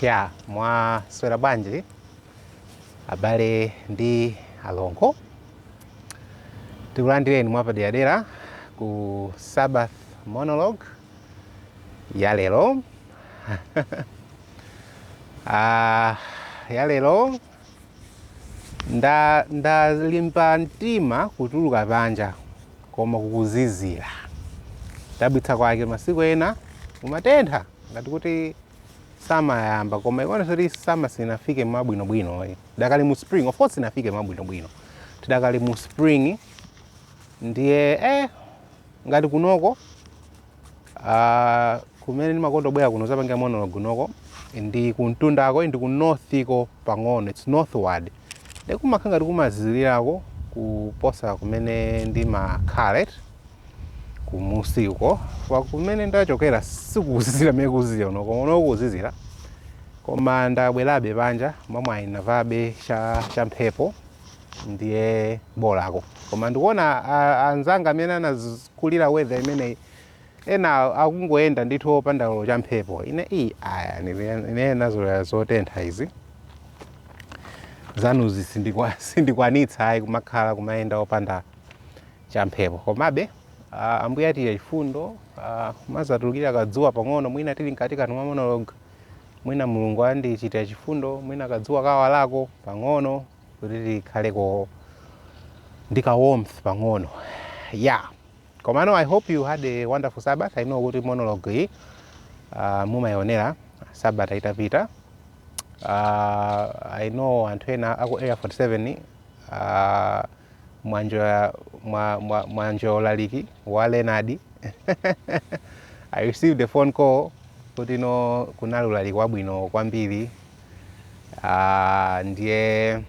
Ya, mwaswera bwanji abale ndi alongo tikulandireni mwapaderadera ku sabbath monologue ya lero Ah, ya lero Ah ndalimba mtima kutuluka panja koma kukuzizira modabwitsa kwake masiku ena kumatentha ngati kuti summer yayamba koma ikuonesa kuti summer sinafike mwabwinobwino eh. Tidakali mu spring of course sinafike mwabwinobwino. Tidakali mu spring ndiye eh ngati kunoko Ah, kumene ndimakonda kubwera kuno zapangira monologue kunoko ndi kumtundako, ndi ku north-ko pang'ono it's northward ndiye kumakhala ngati kumazizirirako kuposa kumene ndimakhala eti kumusi uko kwa kumene ndachokera sikuzizira mmene kukuzizira kuno koma kuno kukuzizira koma ndabwerabe panja mwamwayi ndavalabe cha, cha mphepo ndiye bolako koma ndikuona anzanga amene anakulira weather imeneyi ena akungoyenda ndithu opanda olo cha mphepo ine iyi ayi ine ndinazolowera zotentha izi zanuzi sindikukwanitsa ayi kumakhala kumayenda opanda cha mphepo komabe uh, Ambuye achitira chifundo uh, mazatulukira kadzuwa pang'ono mwina tili mkatikati mwa monologue Mwina Mulungu andichitira chifundo, mwina kadzuwa kawalako pang'ono kuti tikhaleko ndi ka warmth pang'ono. Yeah. Komano I hope you had a wonderful Sabbath. I know kuti monologue iyi uh, mumaionera Sabata itapita. Uh, I know anthu ena aku Area 47 uh, mwa-enjoya mwa, mwa, mwa-enjoya ulaliki wa Leonard. I received a phone call Kuti no kunali ulaliki wabwino kwambiri uh, ndiye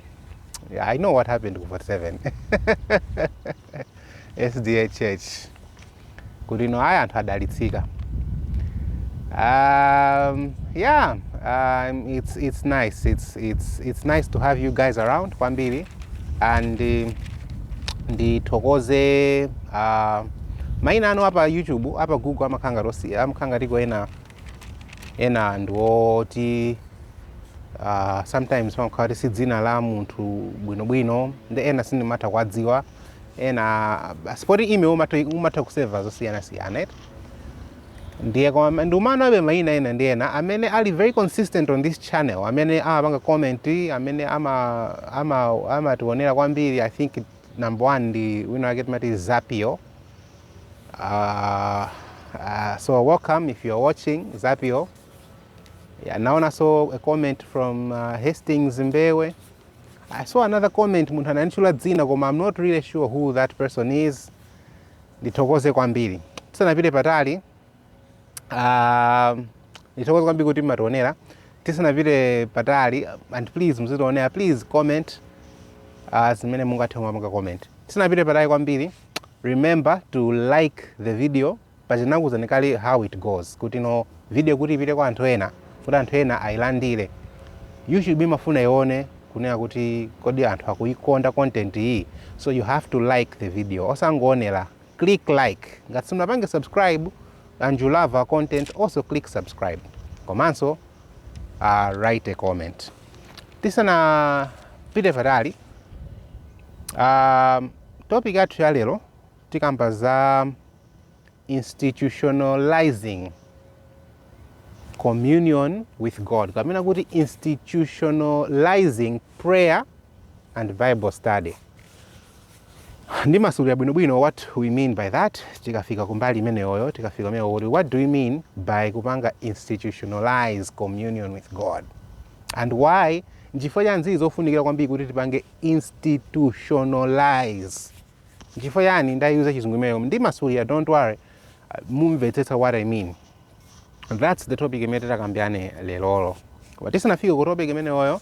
I know what happened ku 47 SDA Church kuti no ayi anthu adalitsika um, yeah um, it's, it's nice it's, it's, it's nice to have you guys around kwambiri and uh, ndithokoze Aaa maina anu apa YouTube apa Google amakhala ngati osi amakhala ngati ndi ena ena ndi oti uh, sometimes pamakhala kuti si dzina la munthu bwinobwino ndi ena sindimatha kuwadziwa ena basi poti email umatha, umatha kusevera zosiyanasiyana eti ndiye koma ndikuwaonabe maina ena ndi ena amene ali very consistent on this channel amene amapanga comment amene ama ama amationera kwambiri I think number one ndi wina wake timati zapio uh, uh, so welcome if you're watching zapio yeah, naonanso a comment from uh, hastings mbewe i saw another comment munthu ananitchula dzina koma i'm not really sure who that person is ndithokoze kwambiri tisanapite patali Ah, ndithokoze kwambiri kuti mumationera tisanapite patali and please muzitionera please comment ah, zimene mungathe koma munga comment tisanapite patali kwambiri remember to like the video paja ndinakuuzani kale how it goes kuti no video kuti ipite kwa anthu ena kuti anthu ena ayilandire you should be imafuna ione kunena kuti kodi anthu akuikonda content iyi so you have to like the video osangoonera click like ngati simunapange subscribe and you love our content also click subscribe komanso uh, write a comment tisanapite patali um, topic yathu ya lero tikamba za institutionalizing communion with god kapena kuti institutionalizing prayer and bible study ndimasulira bwinobwino what we mean by that tikafika kumbali imeneyoyo tikafika kumene kuti what do we mean by kupanga institutionalize communion with god and why nchifukwa chani zili zofunikira kwambiri kuti tipange institutionalize nchifukwa chani ndayuza chizungu imeneyo ndimasulira don't worry Uh, mumvetsetsa what i mean that's the topic imene titakambirane lerolo koma tisanafike ku topic imeneyoyo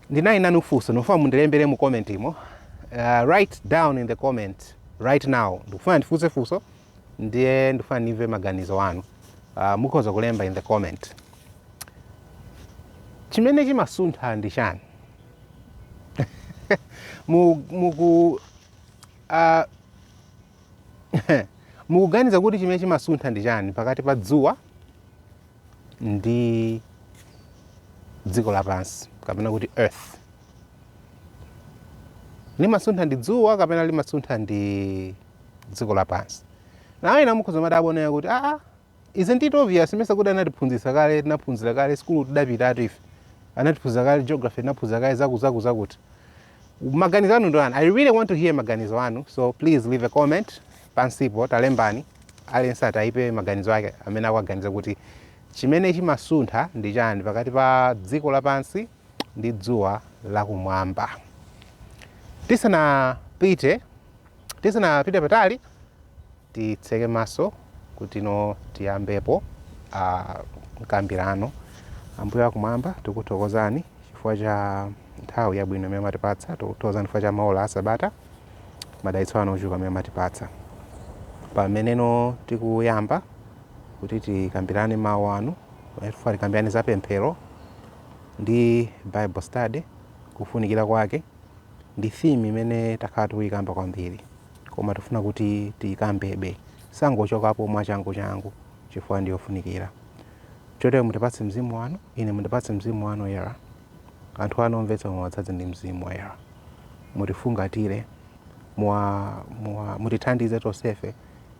ndinali nanu funso ndikufuna mundilembere mu comment umo uh, write down in the comment right now ndikufuna ndifunse funso ndiye ndikufuna ndimve maganizo anu uh, mukhoza kulemba in the comment chimene chimasuntha ndi chani Mu- muku uh, mukuganiza kuti chimene chimasuntha ndi chani pakati pa dzuwa ndi dziko lapansi kapena kuti earth limasuntha ndi dzuwa kapena limasuntha ndi dziko lapansi nawo ena mukhoza kumadabwa kunena kuti aa ah, ah, isn't it obvious mesa kuti anatiphunzitsa kale tinaphunzira kale sukulu tidapitatu ife anatiphunzitsa kale geography tinaphunzira kale zakuzakuzakuti maganizo anu ndi otani i really want to hear maganizo anu so please leave a comment pansipo talembani aliyense atayipe maganizo ake mmene akuganizira kuti chimene chimasuntha ndi chani pakati pa dziko lapansi ndi dzuwa lakumwamba tisanapite tisanapite patali Titseke maso kutino tiyambepo mkambilano. Ambuye akumwamba, tikukuthokozani chifukwa cha nthawi yabwino imene mwatipatsa. Tikukuthokozani chifukwa cha maola a sabata, madalitso anu ochuluka amene mwatipatsa. Pameneno tikuyamba kuti tikambilane mawu anu, pamene tikufuna tikambilane za pemphero ndi bible study, kufunikira kwake ndi theme imene takhala tikuyikamba kwambiri. koma tifuna kuti tiyikambebe. Tisangochokapo mwachangu changu chifukwa ndi yofunikira. Chotero mutipatse Mzimu wanu, ine mundipatse Mzimu wanu Woyera. Anthu anu omvetsera muwadzadze ndi Mzimu Woyera. Mutifungatire, muwa, muwa, mutithandize tonsefe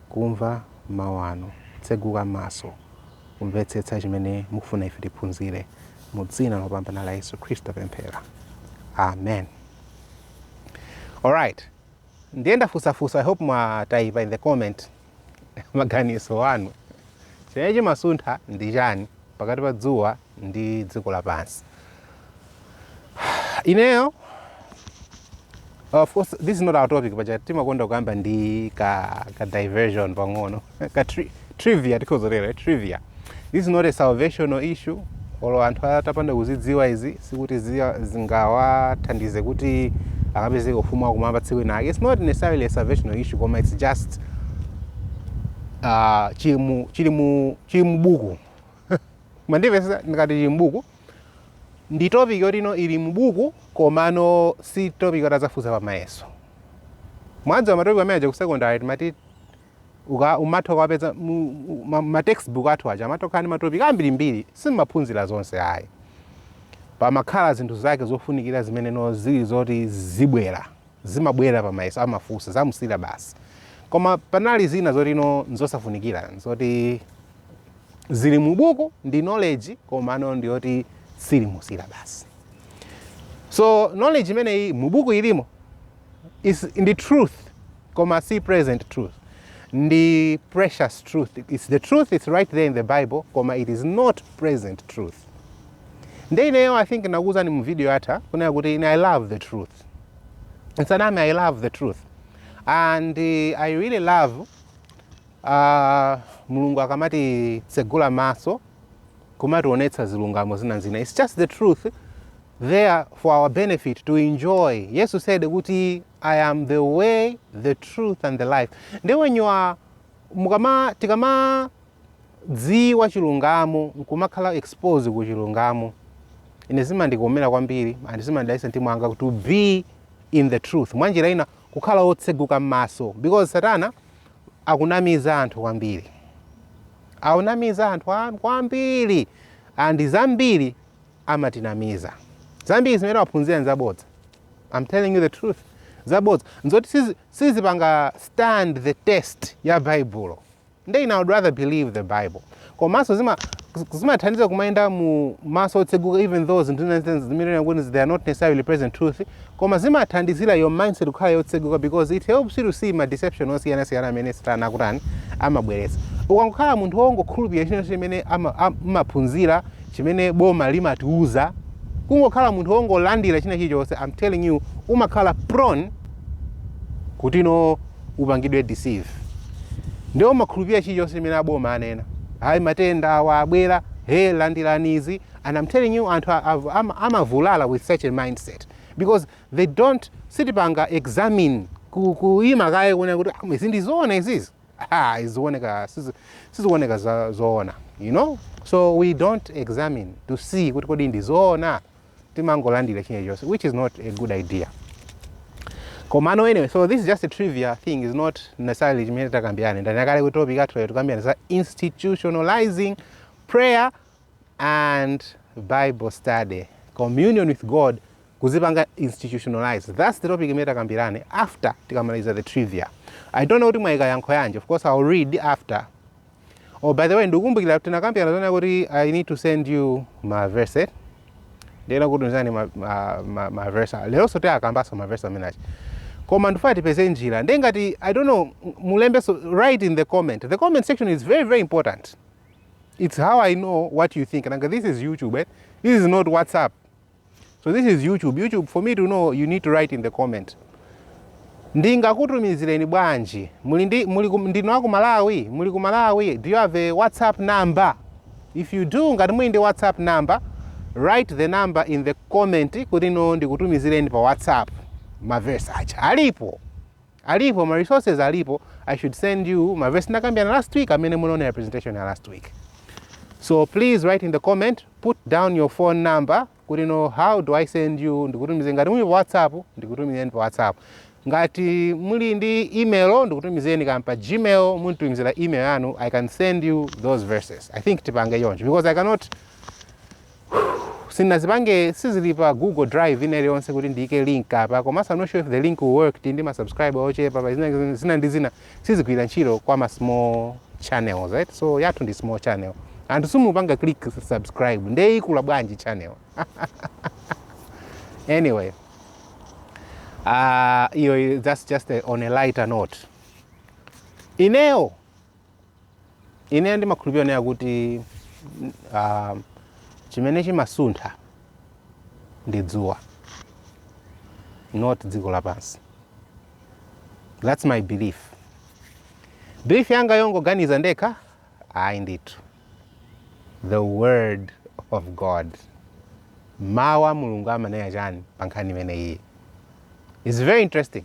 kumva mawu anu, kutseguka maso, kumvetsetsa chimene mukufuna ife tiphunzire. Mu dzina lopambana la Yesu Khristu tapemphera. Amen. Alright. Ndiye ndafunsa funso i hope mwataipa in the comment maganizo anu chimene chimasuntha ndi chani pakati pa dzuwa ndi dziko lapansi ineyo of course this is not our topic but timakonda kuyamba ndi ka, ka diversion pang'ono ka tri- Trivia, tikhoza kutero, eh? Trivia. This is not a salvational issue. Olo anthu atapanda kuzidziwa izi sikuti zia- zingawathandize kuti akapezeke ku ufumu wakumwamba tsiku linake. It's not necessarily a salvational issue koma it's just uh, chili mu chili mu chili mu buku. Mwandipeza ndikati chili mu buku ndi topic yoti no ili mu buku komano si topic yoti azafunsa pa mayeso. Mwadziwa matopic amene aja ku secondary timati uka umatha ukawapeza mu mu- ma, ma textbook athu aja amatha kukhala ndi matopic ambirimbiri simumaphunzira zonse ayi pamakhala zinthu zake zofunikira zimene no zili zoti zibwera zimabwera pa mayeso amafunsa zamusira basi koma panali zina zoti no nzosafunikira zoti zili mu buku ndi knowledge koma no ndi yoti siili mu syllabus so knowledge imeneyi mu buku ilimo ndi truth Koma si present truth. Ndi precious truth. It's the truth, it's right there in the Bible, koma it is not present truth. Nde ineyo I think nakuuzani mu video yatha kunena kuti ine I love the truth. Nsaname I love the truth. And uh, I really love Aaa mulungu akamatitsegula maso nkumationetsa zilungamo zina ndi zina its just the truth there for our benefit to enjoy yesu said kuti i am the way the truth and the life nde when you are mukama tikamadziwa chilungamo nkumakhala expose ku chilungamo ine zimandikomera kwambiri and zimandidalitsa mtima wanga to be in the truth mwanjira ina kukhala wotseguka m'maso because satana akunamiza anthu kwambiri akunamiza anthu kwambiri and zambiri amatinamiza zambiri zimene waphunzira nzabodza I'm telling you the truth zabodza nzoti sizi- sizipanga stand the test ya baibulo nde ine I would rather believe the bible komanso zima zimathandiza kumayenda mu maso otseguka even though zinthu zina zina zimene kuti they are not necessarily present truth koma zimathandizira your mindset kukhala yotseguka because it helps you to see ma deception osiyanasiyana amene satana akutani amabweretsa ukangokhala munthu wongokhulupirira china chimene ama- am- amaphunzitsa chimene boma limatiuza kungokhala munthu wongolandira china chilichonse i'm telling you umakhala prone kuti no upangidwe deceived nde umakhulupirira chilichonse chimene a boma anena ayi matenda awa abwera he landirani izi and am telling you anthu a- av- ama- amavulala with such a mindset because they don't sitipanga examine ku- kuima kaye kuona kuti "Ah, izi ndizoona izizi ah, izioneka sizi- sizioneka za- zoona no so we don't examine to see kuti kodi ndizoona timangolandira china chilichonse which is not a good idea komano anyway so this is just a trivia thing is not necessarily chimene tikambirane ndanena kale kuti topic yathu lero tikambirane za institutionalizing prayer and bible study communion with god kuzipanga institutionalize that's the topic imene tikambirane after tikamaliza the trivia i don't know kuti mwayika yankho yanji of course i'll read after Oh, by the way, ndikukumbukira tinakambirana zonena kuti I need to send you ma verse. eh? Ndinena kuti tumizani ma, ma, ma, ma verse. Leronso tikambanso ma verse amene aja. Koma ndifuna tipeze njira. Ndiye ngati I don't know mulembe so write in the comment. The comment section is very very important. It's how I know what you think. Nanga this is YouTube. Eh? This is not WhatsApp. So this is YouTube. YouTube, for me to know, you need to write in the comment. ndingakutumizireni bwanji muli ndi muli ku- ndinu aku malawi muli ku malawi do you have a whatsapp number if you do ngati muli ndi whatsapp number write the number in the comment kuti ine ndikutumizireni pa whatsapp mavesi aja alipo Alipo ma resources alipo I should send you ma verse tinakambirana last week amene munaonera presentation ya last week. So please write in the comment, put down your phone number kuti you know how do I send you ndikutumize ngati muli pa WhatsApp ndikutumizeni pa WhatsApp. Ngati muli ndi email ndikutumizeni kaya pa Gmail munditumizire email yanu I can send you those verses. I think tipange choncho because I cannot Sindinazipange sizili pa Google drive ina iliyonse kuti ndiike link apa komanso I'm not sure if the link will work tili ndi ma subscriber ochepa pa zina, zina ndi zina sizigwira ntchito kwa ma small channels right so yathu ndi small channel anthu simupanga click subscribe nde ikula bwanji channel anyway uh, iyo that's just a, on a lighter note ineyo ine ndimakhulupirira kunena kuti ah, chimene chimasuntha ndi dzuwa not dziko lapansi thats my belief belief yanga yongoganiza ndekha ayi ndithu the word of god mawu a mulungu amanena chani pa nkhani imeneyi is very interesting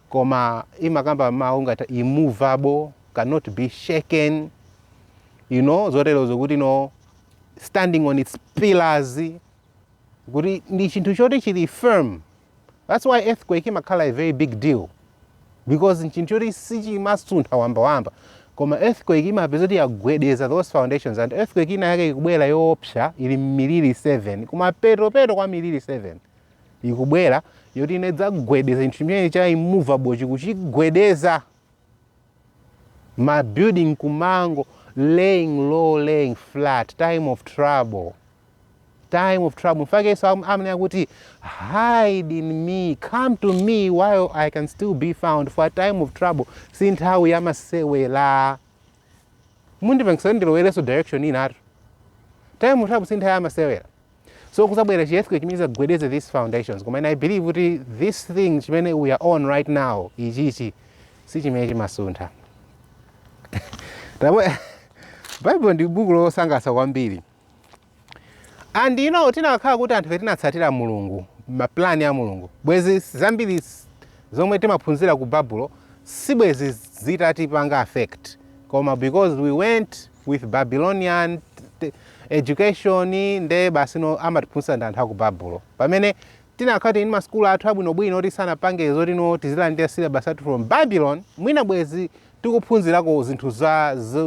koma imakamba mawu ngati immovable, cannot be shaken, you know, zoterozo kuti you know standing on its pillars kuti ndi chinthu choti chili firm that's why earthquake imakhala a very big deal because nchinthu choti sichimasuntha wambawamba koma earthquake imapeza kuti yagwedeza those foundations and earthquake ina yake ikubwera yoopsa ili mmiliri 7 kumapetopeto kwa miliri 7 ikubwera yoti idzagwedeza chinthu chimene cha immovable chi kuchigwedeza mabuilding kumango laying low laying flat time of trouble time of trouble nchifukwa chake yesu am- amanena kuti hide in me come to me while i can still be found for a time of trouble si nthawi ya masewera mundipangisa ndilowerenso direction inatu time of trouble si nthawi ya masewera so kuzabwera chi earthquake chimene chizagwedeze these foundations koma ine i believe kuti this thing chimene we are on right now ichichi si chimene chimasuntha Tabwe- bible ndi buku losangalatsa kwambiri and you know tinakhala kuti anthufe tinatsatira mulungu mapulani a mulungu bwezi zambiri s- zomwe timaphunzira ku babulo si bwezi zitatipanga affect koma because we went with Babylonian education nde basi you know amatiphunzitsa ndi anthu aku Babulo. Pomwe tinakhala tili ndi masukulu athu abwinobwino oti sanapange zoti no tizilandira masyllabus athu from Babylon, mwina bwezi tikuphunzirako zinthu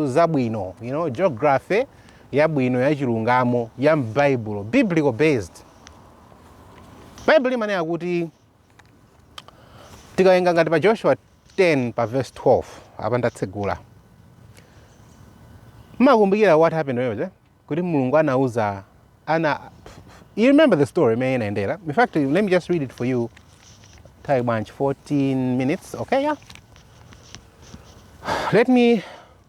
zabwino, you know, geography yabwino yachilungamo ya m'Baibulo, biblical based. Baibulo limanena kuti tikawerenga ngati pa joshua 10 pa verse 12 apa ndatsegula mumakumbukira what happened when was it? kuti mulungu anauza ana you remember the story imene inayendera in fact let me just read it for you nthawi bwanji 14 minutes okay yeah let me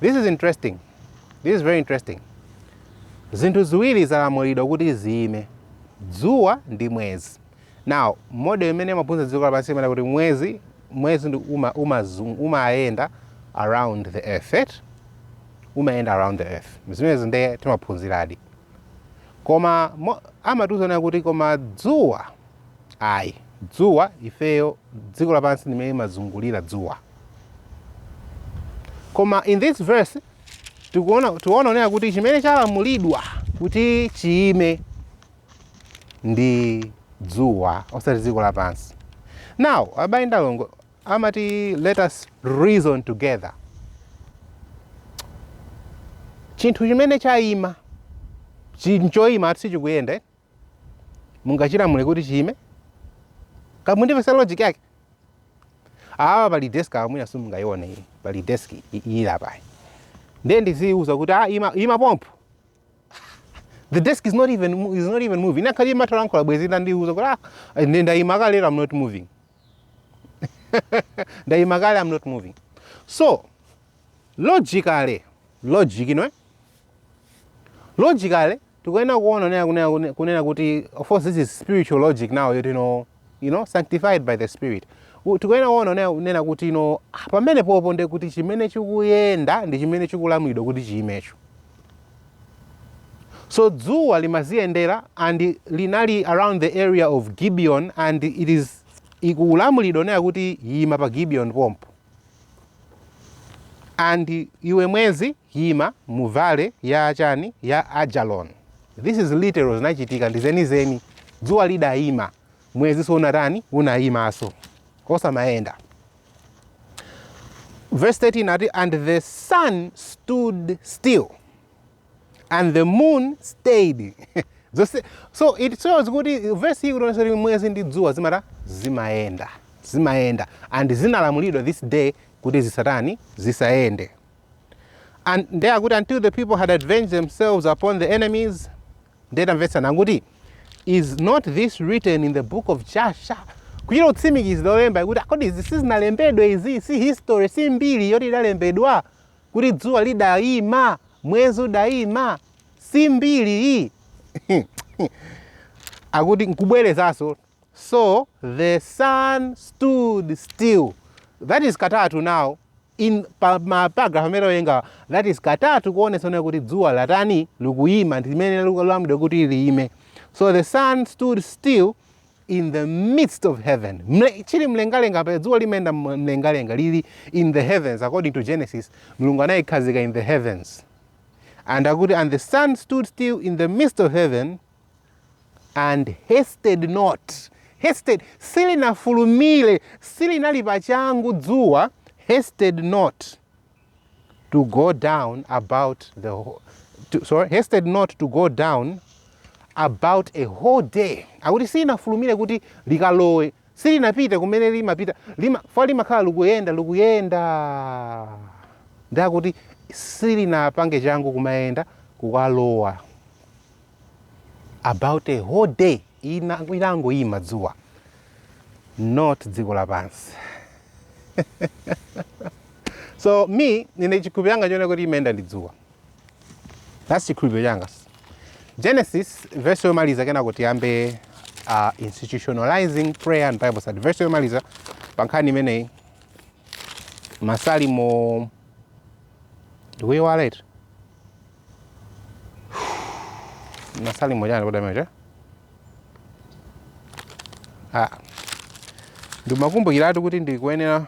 This is interesting. This is very interesting. Zinthu ziwiri zalamulidwa kuti ziime, dzuwa ndi mwezi. Now, model imene amaphunzitsa dziko lapansi imene kuti mwezi mwezi ndi uma umazung- umayenda around the earth. Right? Umayenda around the earth. Zimenezi ndiye timaphunziradi. Koma mo- amatiuza kunena kuti koma dzuwa ayi dzuwa ifeyo dziko lapansi ndi limene limazungulira dzuwa Koma in this verse tikuona kunena kunena kuti chimene chalamulidwa kuti chiime ndi dzuwa osati dziko lapansi. Now abale ndi alongo amati let us reason together. Chinthu chimene chaima choima choti sichikuyenda mungachilamule kuti chiime mukundimvetsa logic yake awa pali desk awa mwina simungayione iyi pali desk i- i- iyi ili apayi ndiye ndiziyiuza kuti ah, ima, ima pompo the desk is not even mo- is not even moving inakakhala imatha kulankhula bwezi itandiuza kuti ah, ndi- ndayima kale lero i'm not moving ndayima kale i'm not moving so Logically, logic, inu eh? Logically, tikuyenera kuona kunena kunena kunena- kunena kuti of course this is spiritual logic now yoti no you know sanctified by the spirit. U- Tikuyenera kuona kunena kunena kuti no ah, pamene popo ndiye kuti chimene chikuyenda ndi chimene chikulamulidwa kuti chiimecho. So dzuwa limaziyendera and linali around the area of Gibeon and it is likulamulidwa kunena kuti yima pa Gibeon pompo. And iwe mwezi yima mu valley ya chani ya Ajalon. This is literal zinachitika ndi zenizeni. Dzuwa lidayima mwezinso unatani unayimanso osamaenda. Verse 13 akuti and the sun stood still. and the moon stayed zose so it shows kuti verse iyi ikutionetsa kuti mwezi ndi dzuwa zimatani zimayenda zimayenda and zinalamulidwa this day kuti zisatani zisayende and nde akuti until the people had avenged themselves upon their enemies nde tamvetsana akuti is not this written in the book of Jasher kuchita kutsimikizira olemba kuti kodi izi sizinalembedwe izi si history si mbiri yoti idalembedwa kuti dzuwa lidaima, mwezi udaima, si mbiri iyi akuti nkubwerezanso so the sun stood still that is katatu now in paragraph imeneyi yokha that is katatu kuonetsana kuti dzuwa likutani likuyima ndimene likulamulidwa kuti liyime so the sun stood still in the midst of heaven ili mlengalenga paja dzuwa limayenda mlengalenga lili in the heavens according to genesis mulungu anayikhazika in the heavens and akuti and the sun stood still in the midst of heaven and hasted not hasted silinafulumire silinali pachangu dzuwa hasted not to go down about the whole, to, sorry, hasted not to go down about a whole day akuti silinafulumire kuti likalowe silinapite kumene limapita paja limakhala likuyenda likuyenda ndi akuti silinapange changu kumayenda kukalowa about a whole day inangoyima dzuwa not dziko lapansi so ine chikhulupiro changa choona kuti imayenda ndi dzuwa that's chikhulupiro changa genesis verse yomaliza kenako tiyambe uh, institutionalizing prayer and bible study verse yomaliza pa nkhani imeneyi masalimo ndikuyiwala eti masalimo chani kodi amenewo ah. ndimakumbukiratu kuti ndikuyenera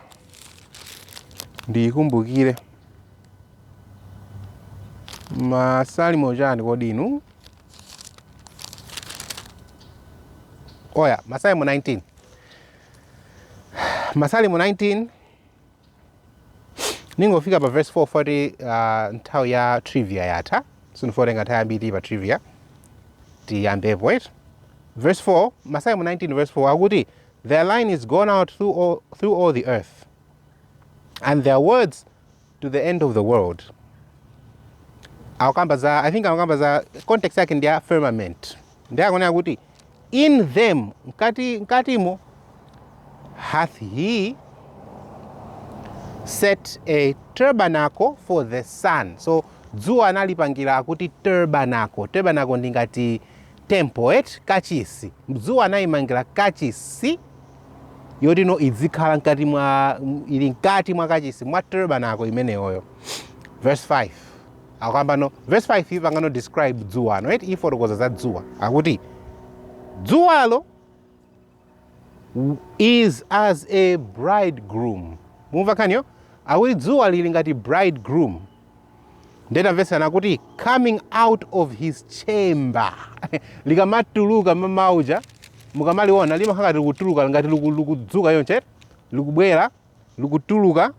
ndiyikumbukire masalimo chani kodi inu oya masalimo 19 masalimo 19 ndingofika pa verse 4 poti uh, nthawi ya trivia yatha sindifuna kutenga nthawi yambiri pa trivia tiyambepo eti verse 4 masalimo 19 verse 4 akuti their line is gone out through all, through all the earth and their words to the end of the world akukamba za i think akukamba za context yake ndi ya firmament ndiye akunena kuti in them mkati mkatimo hath he set a tabernacle for the sun so dzuwa analipangira akuti tabernacle tabernacle ndi ngati temple eti kachisi dzuwa anayimangira kachisi yoti idzikhala mkati mwa ili mkati mwa kachisi mwa tabernacle imeneyoyo verse 5 akukamba no verse 5 ipangano describe dzuwa no eti ifotokoza za dzuwa akuti dzuwalo is as a bridegroom mumva nkhaniyo akuti dzuwa lili ngati bridegroom nde tamvetsana akuti coming out of his chamber likamatuluka m'mawa muja mukamaliona limakhala ngati likutuluka ngati liku- likudzuka chonchi likubwera likutuluka,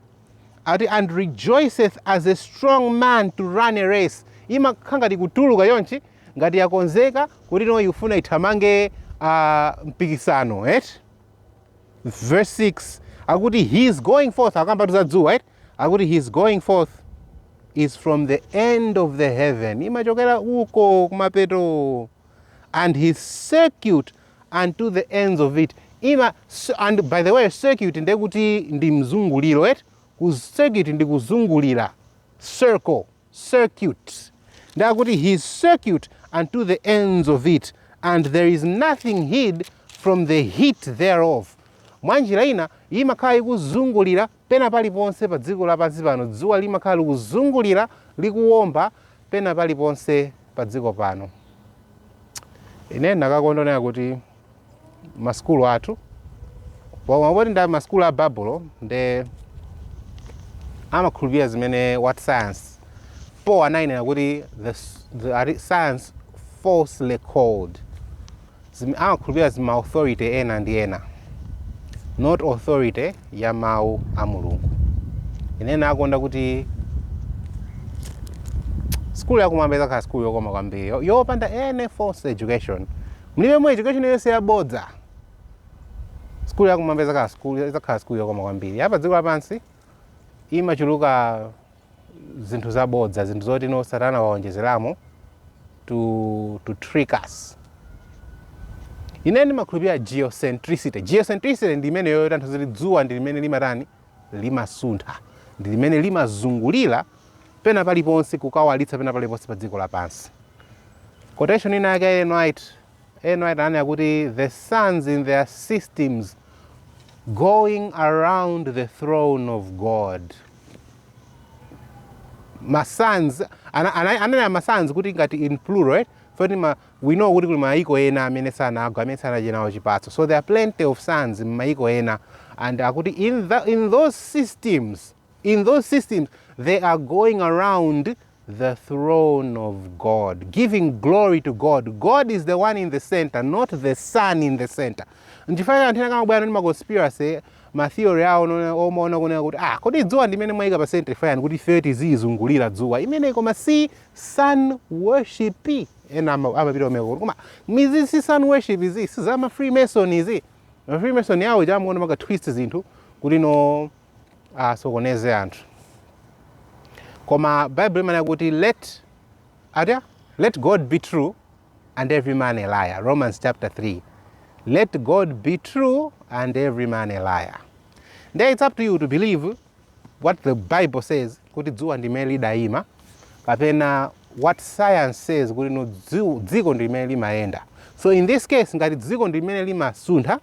ati, and rejoiceth as a strong man to run a race, imakhala ngati ikutuluka chonchi, ngati yakonzeka kuti ino ikufuna ithamange uh, mpikisano right? verse 6 akuti his going forth akukambatu za dzuwa right? akuti his going forth is from the end of the heaven imachokera uko kumapeto and his circuit unto the ends of it ima and by the way circuit ndiye kuti ndi mzunguliro eti circuit ndi kuzungulira circle circuit ndiye kuti his circuit unto the ends of it and there is nothing hid from the heat thereof mwa njira ina imakhala ikuzungulira Pena paliponse padziko lapansi pano, dzuwa limakhala likuzungulira, likuwomba, pena paliponse padziko pano. Ine ndinakakonda kuona kuti masukulu athu, koma poti ndi masukulu a Babulo, nde amakhulupirira zimene what science Paul anayinena kuti the, the science falsely so called Zim, amakhulupirira zima authority ena ndi ena not authority ya mawu a mulungu ine ndikuona kuti skulu yakumwamba izakhala skulu yokoma kwambiri yo- yopanda any false education mulibemo education yonse yabodza skulu yakumwamba izakhala skulu izakhala skulu yokoma kwambiri yapa dziko lapansi imachuluka zinthu zabodza zinthu zoti no satana waonjezeramo to, to trick us ine ndimakhulupirira geocentricity geocentricity ndi imeneyo yoti imatanthauza kuti dzuwa ndi limene limatani limasuntha ndi limene limazungulira pena paliponse kukawalitsa pena paliponse pa dziko lapansi quotation ina yake ya Ellen White Ellen White ananena kuti the suns in their systems going around the throne of god ma suns ana, ana, ananena ma suns kuti ngati in plural right? poti we know kuti kuli mayiko ena amene sanagwa amene sanadye nawo chipatso so there are plenty of suns m'mayiko ena and akuti in, the, in those systems in those systems they are going around the throne of God, giving glory to God. God is the one in the center, not the sun in the center. Nchifukwa chake anthu ena akamabwera ndi maconspiracy matheory awo nona- omaona kunena kuti ah, kodi dzuwa ndi imene mwayika pa center mukufuna kuti ifeyo tizizungulira dzuwa imeneyi koma si sun worship ena ama- amapita kumeneko kuti koma izi si sun worship izi si za ma freemason izi ma freemason awo choncho amaka twist zinthu kuti no asokoneze anthu koma bible imanena kuti let ata let god be true and every man a liar romans chapter 3 let god be true and every man a liar nde it's up to you to believe what the bible says kuti dzuwa ndi limene lidayima kapena what science says kuti no dzi- dziko ndi limene limayenda so in this case ngati dziko ndi limene limasuntha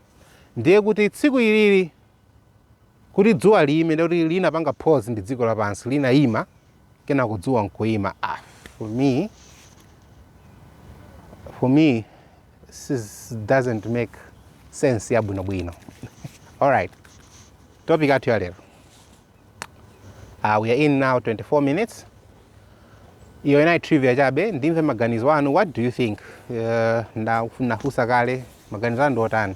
ndiye kuti tsiku ilili Kuti dzuwa liime, ndiye kuti linapanga pause ndi dziko lapansi, linaima, kenako dzuwa nkuima. Ah, for me, for me, this doesn't make sense yabwinobwino. Alright, topic athu ya lero. uh, we are in now 24 minutes iyo inali trivia chabe ndimve maganizo anu what do you think uh, ndafunsa kale maganizo anu ndiotani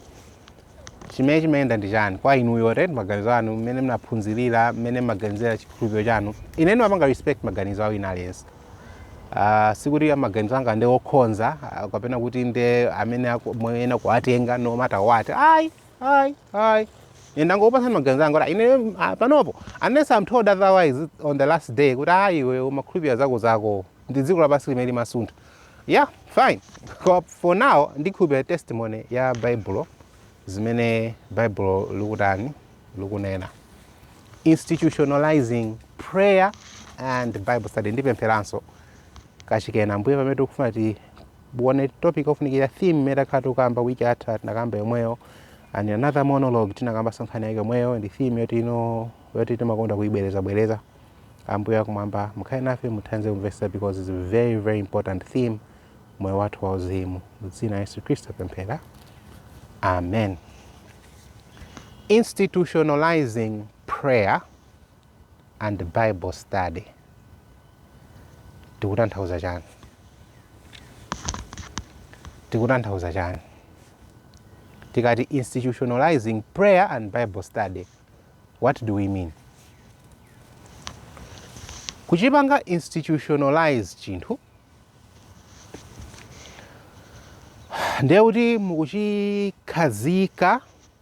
chimene chimayenda ndi chani kwa inuyo ten maganizo anu mmene mnaphunzirira mmene mmaganizira chikhulupiriro chanu ine ndimapanga respect maganizo a wina aliyense uh, sikuti maganizo anga ndi okhonza uh, kapena kuti ndi amene aku- muyenera kuwatenga no matter what ayi Ayi, ayi. Ine ndangopatsa maganizo anga kuti ine ah, panopo unless I'm told otherwise on the last day kuti ayi iwe umakhulupirira zako zako ndi dziko lapansi limene limasuntha. Yeah, fine. Koma for now ndikhulupirira testimony ya Baibulo zimene Baibulo likutani likunena. Institutionalizing prayer and Bible study ndipempheranso kachikena ambuye pamene tikufuna ti Tione topic ofunikira theme imene takhala tikukamba wiki yatha tinakamba yomweyo and in another monologue tinakambanso nkhani yake yomweyo ndi theme yoti ino yoti timakonda kuyibwerezabwereza ambuye akumwamba mukhale nafe mutithandize kumvetsa because it's a very very important theme moyo wathu wa uzimu mu dzina la yesu khristu tapemphera amen institutionalizing prayer and bible study tikutanthauza chani tikutanthauza chani tikati institutionalizing prayer and bible study what do we mean kuchipanga institutionalize chinthu ndiye kuti mukuchikhazika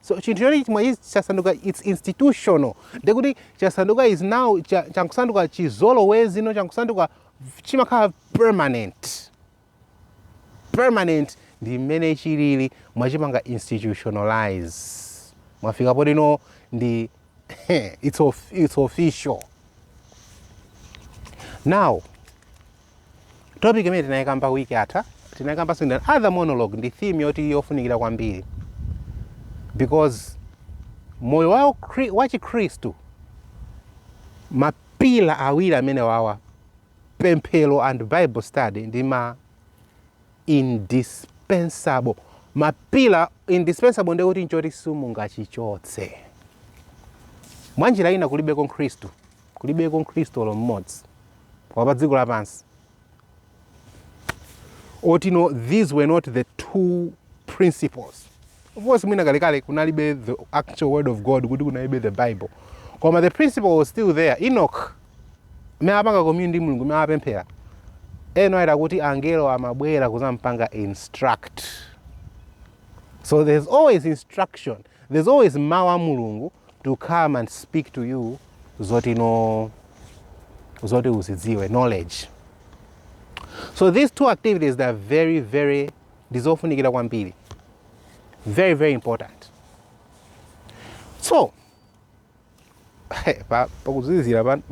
so chinthu choti chimenechi chasanduka its institutional ndiye kuti chasanduka is now cha- chankusanduka chizolowezi no chankusanduka chimakhala permanent permanent ndi mmene chilili mwachipanga institutionalize mwafika potino ndi it's, of, it's official now topic imene tinayikamba wiki yatha tinayikambanso other monologue ndi theme yoti yofunikira kwambiri because moyo wa ukri- wa chikhristu mapila awiri amenewawa pemphero and bible study ndi ma indispensable. Ma pillar indispensable ndi kuti nchoti simungachichotse. Mwa njira ina kulibeko Mkhristu, kulibeko Mkhristu olo mmodzi wa pa dziko lapansi oti no these were not the two principles Of course mwina kalekale kunalibe the actual word of God kuti kunalibe the Bible. Koma the principle was still there. Enoch amene apanga commune ndi Mulungu amene apemphera. Noah eti kuti angelo amabwera kuzampanga instruct. So there's always instruction. There's always mawu a Mulungu to come and speak to you zoti no zoti uzidziwe knowledge. So these two activities they are very very ndizofunikira kwambiri. very very important so pa- pakuzizira pano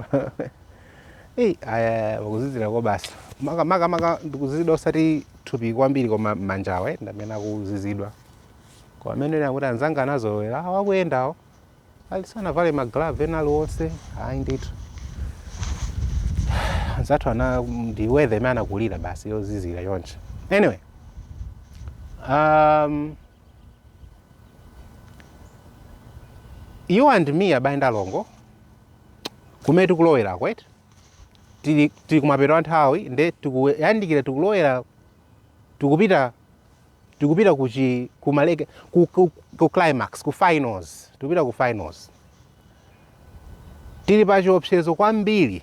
eyi aya pakuzizira koopsa maka maka maka ndikuzizidwa osati thupi kwambiri koma mmanjawa eh, ndamene akuzizidwa koma amene ena kuti anzanga anazolowera awo akuyendawo alibe sanavale ma glove ena aliwonse ayi ndithu anzathu awa ndi weather imene anakulira basi yozizira choncho anyway um, you and me abale ndi alongo kumene tikulowera kwete tili, tili kumapeto a nthawi nde tikuyandikira tikulowera tikupita tikupita ku chi ku mapeto ku, ku, ku climax ku finals tikupita ku finals tili pa chiopsezo kwambiri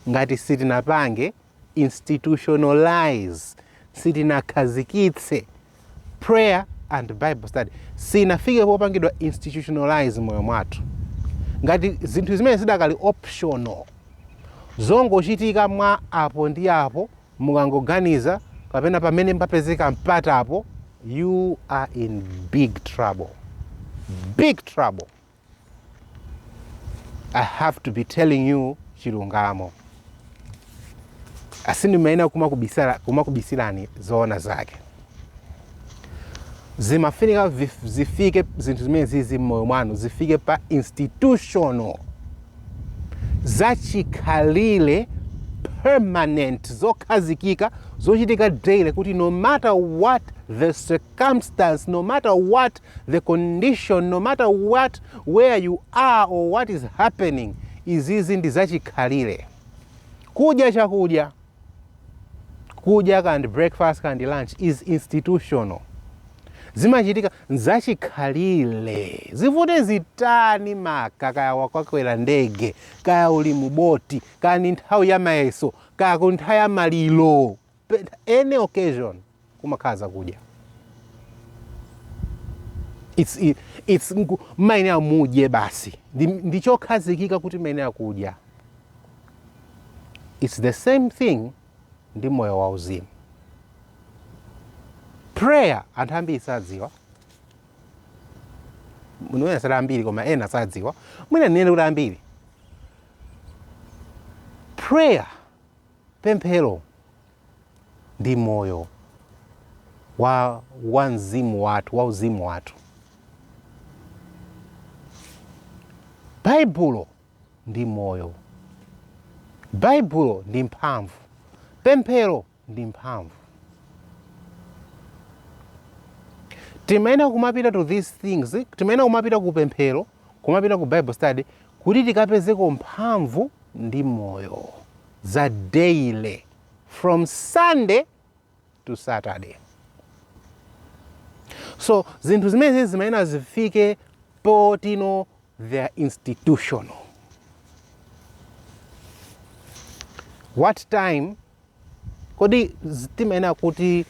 ngati sitinapange institutionalize sitinakhazikitse prayer and bible study sinafike popangidwa institutionalize mmoyo mwathu ngati zinthu zimene zidakali optional zongochitika mwa apo ndi apo Mukangoganiza kapena pamene papezeka mpatapo you are in big trouble, big trouble. I have to be telling you chilungamo. Sindimayenera kumakubisirani zoona zake. zimafunika zifike zinthu zimene zizi mmoyo mwanu zifike pa institutional zachikhalire permanent zokhazikika zochitika daily kuti no matter what the circumstance no matter what the condition no matter what where you are or what is happening izizi ndi zachikhalire kudya chakudya Kudya kaya ndi breakfast kaya ndi lunch is institutional. Zimachitika nzachikhalire. Zivute zitani kaya wakwera ndege, kaya uli mu boti, kaya ndi nthawi ya mayeso, kaya kuli nthawi ya maliro, any occasion. kumakhala zakudya it's, i- it's nku- mumayenera mudye basi ndi, ndi chokhazikika kuti mumayenera kudya it's the same thing ndi moyo wauzimu prayer anthu ambiri sadziwa mwina sali ambiri koma ena sadziwa mwina ndinene kuti ambiri prayer Pemphero ndi moyo wa wa mzimu wathu wa uzimu wathu. Baibulo ndi moyo. Baibulo ndi mphamvu. Pemphero ndi mphamvu. Timayenera kumapita to these things, timayenera kumapita ku pemphero, kumapita ku Bible study kuti tikapezeko mphamvu ndi moyo za daily from sunday to saturday so zinthu zimenezi zimayenera zifike poti no they are institutional what time kodi timayenera kuti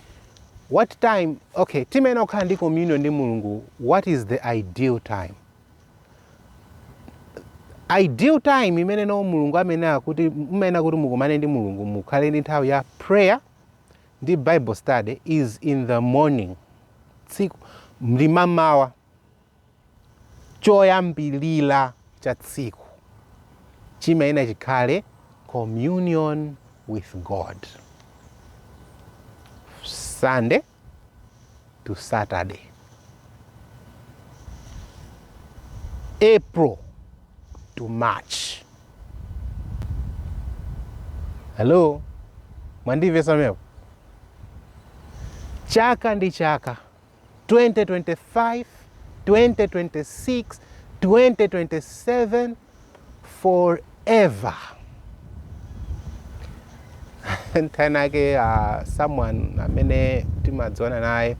what time okay timayenera kukhala ndi communion ndi mulungu what is the ideal time ideal time imene no mulungu amanena kuti mumayenera kuti mukumane ndi mulungu mukhale ndi nthawi ya prayer ndi bible study is in the morning tsiku m'mamawa choyambirira cha tsiku chimayenera chikhale communion with God. Sunday to Saturday. April to March. Hello, mwandimvetsa pamenepo? Chaka ndi chaka 2025, 2026, 2027 forever nthawi inayake uh, ah, someone amene timadziwana naye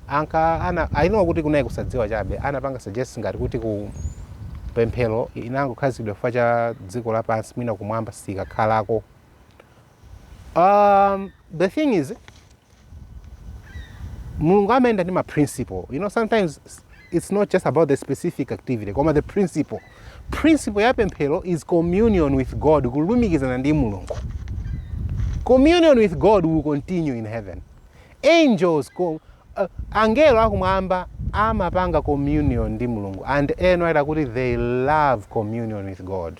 ankanena kuti kunali kusadziwa chabe anapanga suggest ngati kuti pemphero inangokhazikitsidwa chifukwa cha dziko lapansi mwina kumwamba sikakhalako Um, the thing is mulungu amayenda ndi ma principle you know sometimes it's not just about the specific activity koma the principle principle ya pemphero is communion with god kulumikizana ndi mulungu communion with god will continue in heaven angels co- uh, angelo akumwamba amapanga communion ndi mulungu and amanena kuti they love communion with god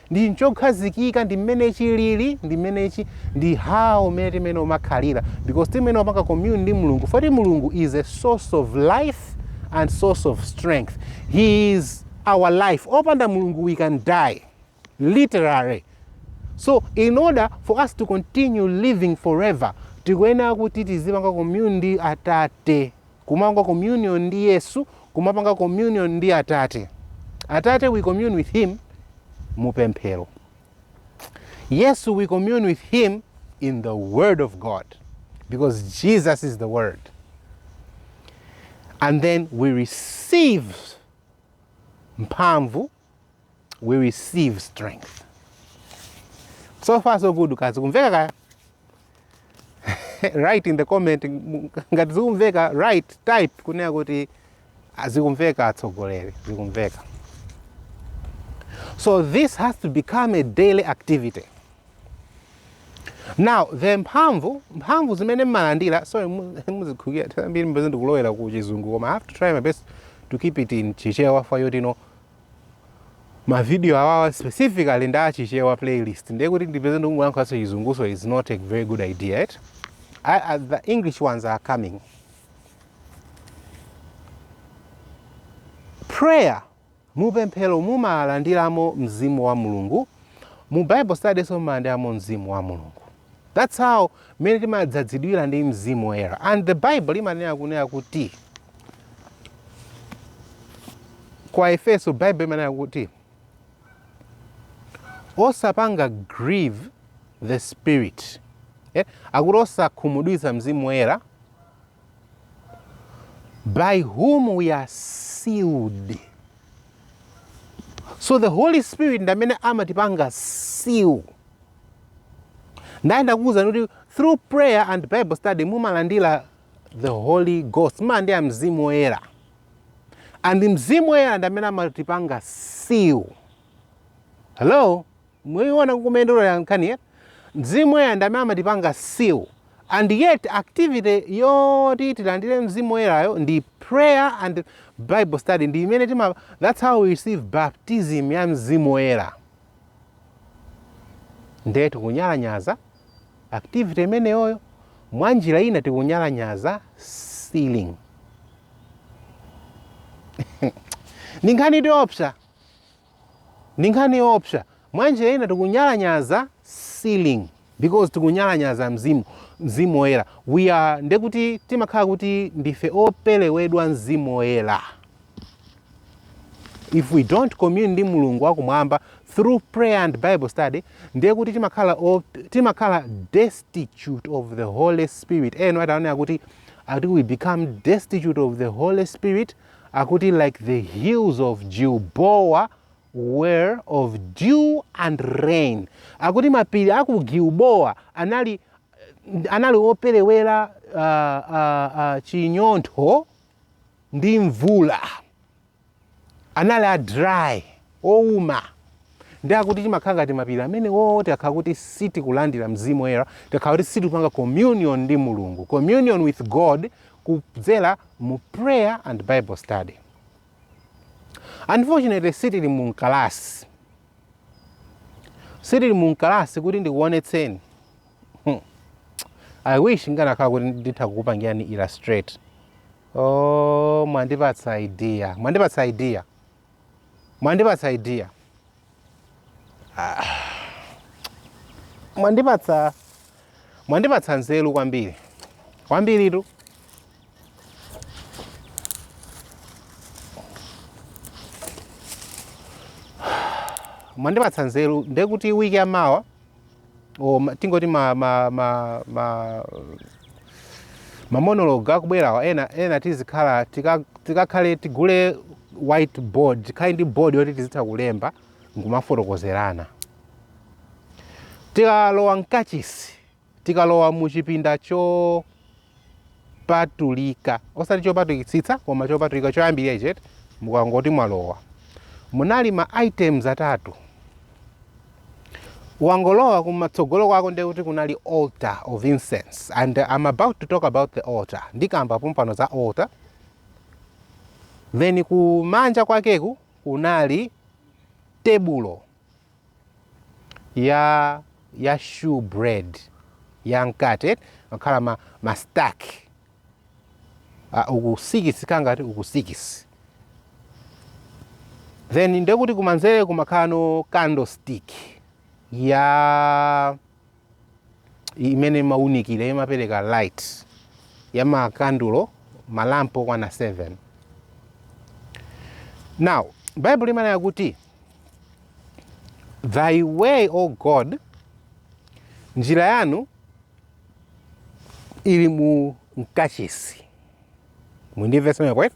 Ndi nchokhazikika ndi mmene chilili ndi mmene chi ndi how mmene timene timakhalira because timene timapanga commune ndi Mulungu poti Mulungu is a source of life and source of strength he is our life opanda Mulungu we can die literally so in order for us to continue living forever tikuyenera kuti tizipanga commune ndi atate Kumapanga communion ndi Yesu kumapanga communion ndi Atate. Atate we commune with him mu pemphero. Yesu we commune with him in the word of God because Jesus is the word. And then we receive mphamvu we receive strength so far so good kaya zikumveka write in the comment ngati zikumveka write type kunena kuti ah, zikumveka atsogoleri zikumveka so this has to become a daily activity now the mphamvu mphamvu zimene mmalandira sorry muzindikhululukira kambiri ndipeze ndikulowera ku chizungu koma i have to try my best to keep it in chichewa for you to know ma video awawa specifically ndi a Chichewa playlist ndiye kuti ndipeze ndikungoyankhulanso chizungunso is not a very good idea it I, I, the english ones are coming prayer mupemphero mumalandiramo mzimu wa mulungu mu bible study nso mumalandiramo mzimu wa mulungu That's how mmene timadzadzidwira ndi Mzimu Woyera. And the Bible limanena kunena kuti kwa Efeso Bible imanena kuti osapanga grieve the spirit eh? akuti osakhumudwitsa mzimu woyera by whom we are sealed so the holy spirit ndamene amatipanga seal Ndiye ndakuwuzani kuti through prayer and Bible study mumalandira the Holy Ghost, mumalandira Mzimu Woyera. And Mzimu Woyera ndi amene amatipanga seal. Hello? Mukuona komwe ikupita nkhaniyi? Mzimu Woyera ndi amene amatipanga seal. And yet activity yoti tilandire Mzimu Woyerayo ndi prayer and Bible study ndi imene tima that's how we receive baptism ya Mzimu Woyera. Ndiye tikunyalanyaza activity imeneyoyo, mwa njira ina tikunyalanyaza sealing. Ndi nkhani yoopsa, ndi nkhani yoopsa. Mwa njira ina tikunyalanyaza sealing. because tikunyalanyaza mzimu mzimu woyera we are nde kuti timakhala kuti ndife opelewedwa mzimu woyera if we don't commune ndi mulungu wakumwamba through prayer and bible study ndiye kuti timakhala op- timakhala destitute of the holy spirit ena ataonera kuti ati we become destitute of the holy spirit akuti like the hills of gilboa were of dew and rain akuti mapiri a ku gilboa anali anali operewera uh, uh, uh, chinyontho ndi mvula anali a dry ouma ndi akuti timakhala ngati mapiri amenewo tikakhala kuti sitikulandira mzimu woyera tikakhala kuti sitikupanga communion ndi mulungu communion with god kudzera mu prayer and bible study Unfortunately sitili mu mkalasi. Sitili mu mkalasi kuti ndikuonetseni. Hmm. I wish nganakhala kuti nditha kukupangirani illustrate. Oh, mwandipatsa idea. Mwandipatsa idea. Mwandipatsa idea. Ah. Mwandipatsa mwandipatsa nzeru kwambiri. Kwambiritu. Mwandipatsa nzeru ndekuti wiki ya mawa o ma- tingoti ma, ma, ma, ma, ma monologue akubwerawa ena ena tizikhala tika- tikakhale tigule whiteboard tikhale ndi board yoti tizitha kulemba nkumafotokozerana tikalowa mkachisi tikalowa mu chipinda cho patulika osati chopatulikitsitsa koma chopatulika choyambirira ichi eti mukangoti mwalowa munali ma items atatu wangolowa kumatsogolo kwako ndiye kuti kunali altar of incense and i'm about to talk about the altar ndikamba pompano za altar then kumanja kwakeku kunali tebulo ya ya shewbread ya mkate makhala ma, ma stack uh, uku sikisi kukhala ngati uku sikisi then ndekuti kumanzere kumakhalano candlestick ya imene imaunikira imapereka light ya makandulo malampu okwana 7 now baibulo limanena kuti thy way o god njira yanu ili mu kachisi muli ndi verse imeneyo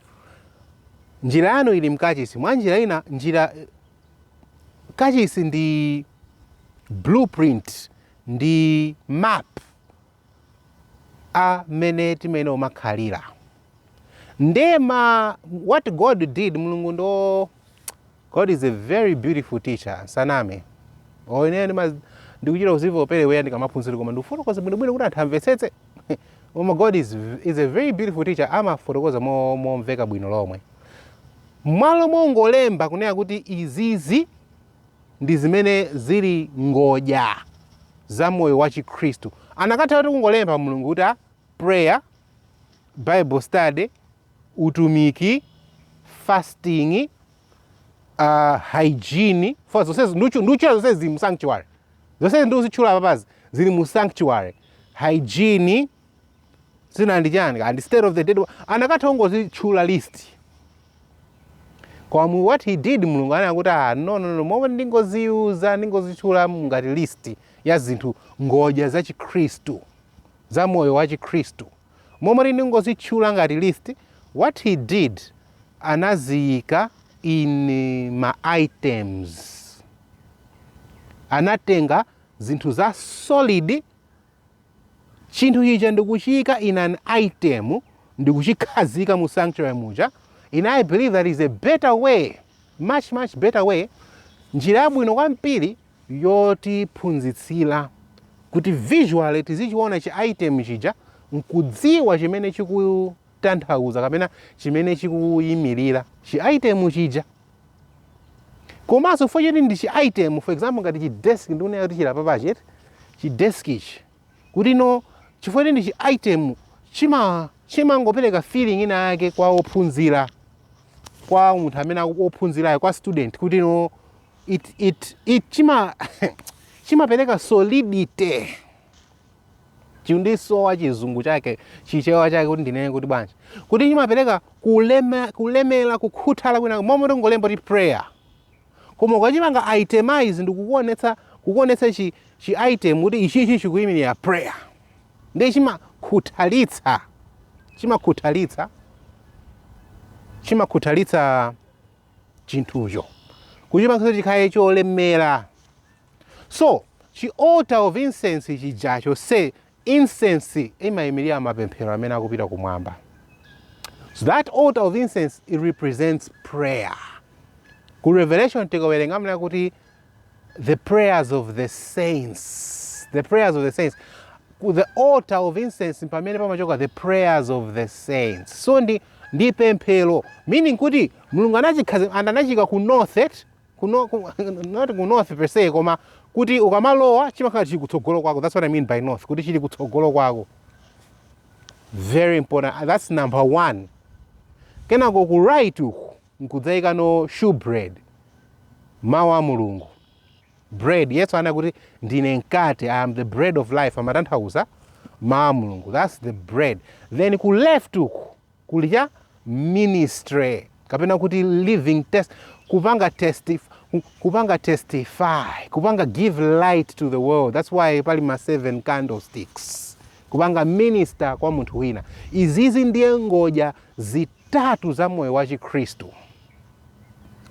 njira yanu ili mkachisi mwa njira ina njira Kachisi ndi blueprint, ndi map a mmene timayenera kumakhalira. Ndiye ma what God did, Mulungu ndi o, God is a very beautiful teacher, tisaname. Oh, ine ndima- ndimachita kudziwa kuperewera ndikamaphunzitsa kuti koma ndikufotokozadi bwinobwino kuti anthu amvetsetse. Koma God is, is a very beautiful teacher, amafotokoza mo- momveka bwino lomwe. M'malo mongolemba kunena kuti izizi ndi zimene zili ngodya za moyo wa chikhristu, anakathatu kungolemba Mulungu kuti a prayer, bible study, utumiki, fasting, a hygiene, chifukwa zonsezi ndutchu- ndutchula zonsezi zili mu sanctuary. Zonsezi ndikuzitchula apapazi zili mu sanctuary. Hygiene. zina ndi chani and state of the dead anakatha kungozitchula list koma what he did mulungu anena kuti ah, no, no, no, m'malo moti ndingoziuza ndingozitchula ngati list ya zinthu ngodya za chikhristu za moyo wa chikhristu m'malo moti ndingozitchula ngati list what he did anaziika in eh, ma items anatenga zinthu za solid chinthu chija ndi kuchiika in an item ndi kuchikhazika mu sanctuary muja ine I believe that is a better way much much better way njira yabwino kwambiri yotiphunzitsira kuti visually tizichiona chi item chija nkudziwa chimene chikutanthauza kapena chimene chikuyimirira chi item chija komanso chifukwa choti ndi chi item for example ngati chi desk ndikunena kuti chili apapachi eti, chi desk ichi kuti no chifukwa choti ndi chi item chima chimangopereka feeling ina yake kwa ophunzira kwa munthu amene aku- ophunzirayo kwa student kuti no it, it, it chima chimapereka solidity chikundisowa chizungu chake chichewa chake kuti ndinene kuti bwanji kuti chimapereka kulema, kulemera kukhuthala kwina m'malo mongolemba kuti prayer koma ukachipanga itemize ndikukuonetsa kukuonetsa chi, chi item kuti ichichi chikuyimirira prayer ndiye chimakhuthalitsa chimakhuthalitsa chimakhuthalitsa chinthucho kuchipangitsa chikhale cholemera So chi altar of incense chijacho so incense imaimirira mapemphero amene akupita kumwamba. So that altar of incense it represents prayer. Ku Revelation tikawerenga amanena kuti the prayers of the saints. The prayers of the saints. Ku the altar of incense pamene pamachoka the prayers of the saints. So ndi ndi pemphero meaning kuti Mulungu anachikhazi and anachiika ku north eti kuno ku, not ku north per se koma kuti ukamalowa chimakhala chili kutsogolo kwako that's what i mean by north kuti chili kutsogolo kwako very important Ah, that's number one kenako ku right uku nkudzaika no shewbread mawu a mulungu bread yesu anena kuti ndine mkate i am the bread of life amatanthauza mawu a mulungu that's the bread then ku left uku kuli cha ministry kapena kuti living kupanga kupanga testify kupanga give light to the world that's why pali ma seven candlesticks kupanga minister kwa munthu wina izizi ndiye ngodya zitatu za moyo wa chikhristu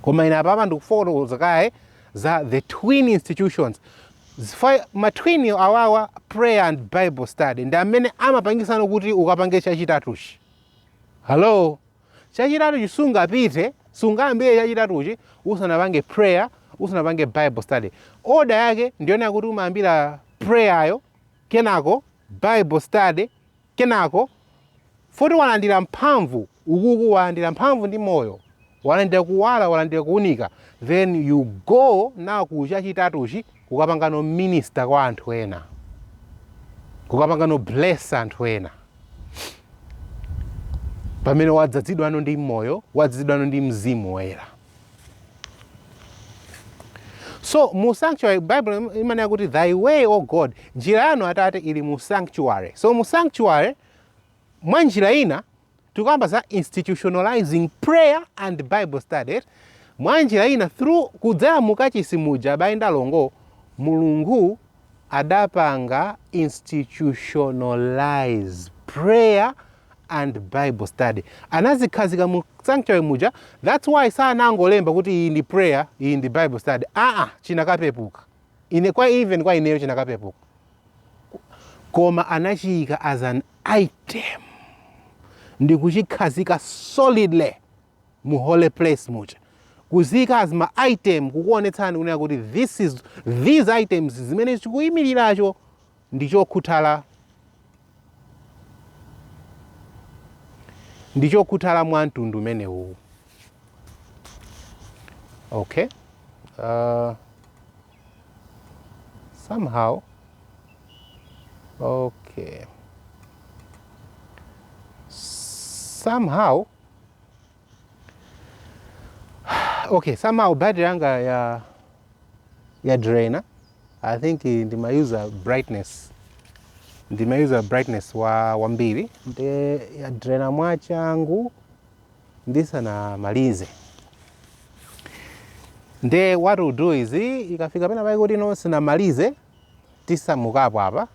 koma ine apapa ndikufotokoza kaye za the twin institutions Chifukwa ma twin awawa prayer and bible study ndi amene amapangitsano kuti ukapange chachitatuchi. Hello? Chachitatuchi sungapite, sungayambire chachitatuchi usanapange prayer, usanapange bible study. Order yake ndiyonena kuti umayambira prayer yo, kenako bible study, Kenako, futi walandira mphamvu, ukuku walandira mphamvu ndi moyo, walandira kuwala, walandira kuunika, then you go now ku chachitatuchi kukapangano minister kwa anthu ena, kukapangano bless anthu ena. Pamene wadzadzidwano ndi moyo, wadzadzidwano ndi mzimu woyera. so mu sanctuary bible imanena kuti thy way o god njira yanu atate ili mu sanctuary so mu sanctuary mwa njira ina tikukamba za institutionalizing prayer and bible study mwa njira ina through kudzera mukachisi muja abale ndi alongo mulungu adapanga institutionalize prayer and bible study anazikhazika mu sanctuary muja that's why sanangolemba kuti iyi ndi prayer iyi ndi bible study aa chinakapepuka even kwa ineyo chinakapepuka koma anachiyika as an item ndi kuchikhazika solidly mu holy place muja kuziyika as ma item kukuonetsani kunena kuti this is these items zimene chikuyimiriracho ndi chokhuthala ndi chokhuthala mwa mtundu umenewu okay uh, somehow okay somehow okay somehow battery yanga ya ya drainer I think ndimayuza brightness ndimayuza brightness wa wambiri nde yadrena mwachangu ndisanamalize nde what we'll do is ikafika pena pake kuti no sinamalize tisamukapo apa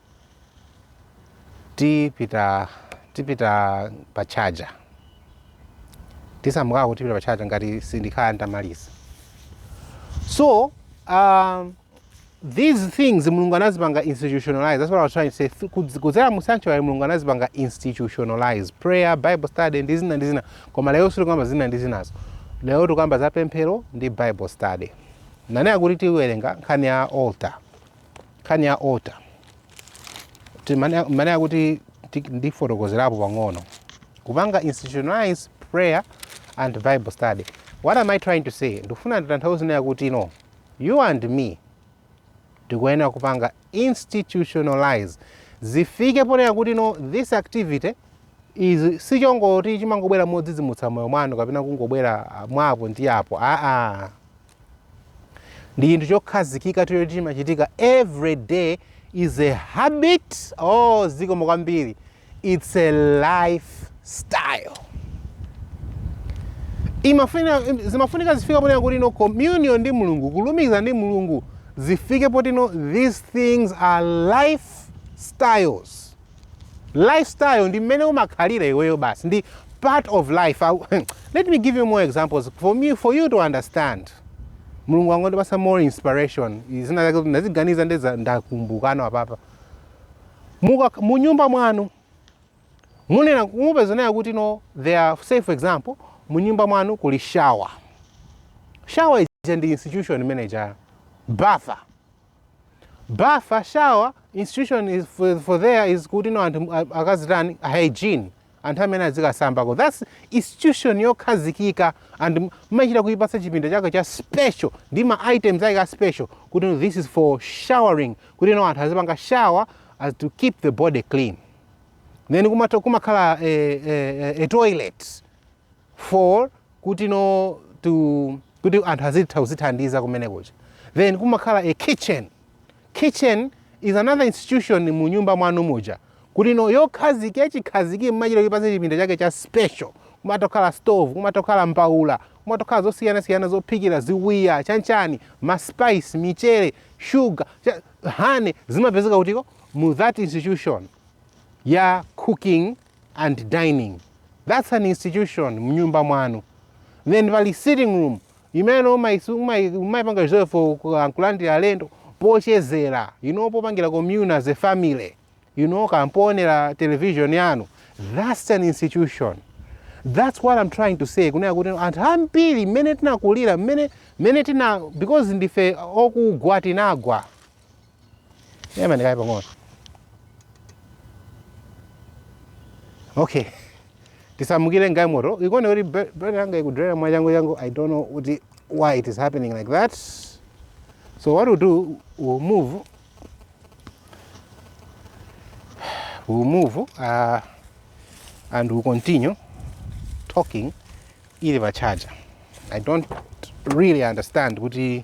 tipita tipita pa charger tisamukako tipita pa charger ngati sindikhala nditamaliza so um, these things mulungu anazipanga institutionalize that's what i was trying to say Th- kudz- kudzera mu sanctuary mulungu anazipanga institutionalize prayer bible study ndi zina ndi zina koma lero sitikamba zina ndi zinazo lero tikamba za pemphero ndi bible study nanena kuti tiwerenga nkhani ya altar nkhani ya altar ndimanena kuti ndifotokozerapo pang'ono kupanga institutionalize prayer and bible study what am i trying to say ndikufuna nditanthauze zonena kuti no you and me tikuyenera kupanga institutionalize zifike ponena kuti no this activity izi sichoti chimangobwera modzidzimutsa moyo mwanu kapena kungobwera ah, mwa apo ndi apo aa ndi chinthu chokhazikika tiro liti chimachitika every day is a habit oh zikomo kwambiri it's a life style imafuna zimafunika zifika ponena kuti no communion ndi mulungu kulumikizana ndi mulungu zifike potino these things are life styles lifestyle ndi mmene umakhalira iweyo basi ndi part of life Au- let me give you more examples for me for you to understand mulungu wangondipasa more inspiration zina zake kuti ndaziganiza ndeza ndakumbukanso apapa Muka- munyumba mwanu munena mupeza zonena kuti no there are say for example munyumba mwanu kuli shower shower ija ndi institution monga ya bafa bafa a shower institution is for, for there is kuti no anthu a- akazitani a hygiene anthu ameneyu azikasambako thats institution yokhazikika and m- mmachita kuipasa chipinda chake cha special ndi ma items ake a special kuti no, this is for showering kuti no anthu azipanga shower as to keep the body clean then kumatha kumakhala eh, eh, eh, a toilet for kuti no to kuti anthu azitha kuzithandiza kumene kuja then kumakhala a kitchen kitchen is another institution mu nyumba mwanu muja kuti no yokhazikikhaziki mmachita kuipatsa chipinda chake cha special kumatokhala stove kumatokhala mbaula kumatokhala zosiyanasiyana zophikira ziwiya chanchani maspice michere shuga cha- honey zimapezeka kuti mu that institution ya cooking and dining that's an institution mnyumba mwanu then pali sitting room imene umaisi- umai- umaipanga reserve for ku- ah, kulandira alendo pochezera you know popangira commune as a family you know kampoonera television yanu that's an institution that's what i'm trying to say kunena kuti anthu ambiri mmene tinakulira mmene mmene tina because ndife okugwa tinagwa Yema ndikaye pang'ono. Okay. Tisamukire ngai moto. Ikone kuti brother yanga ikudrera mwa changu changu. I don't know kuti why it is happening like that. So what we'll do, we'll move. We'll move uh, and we'll continue talking ili pa charger. I don't really understand kuti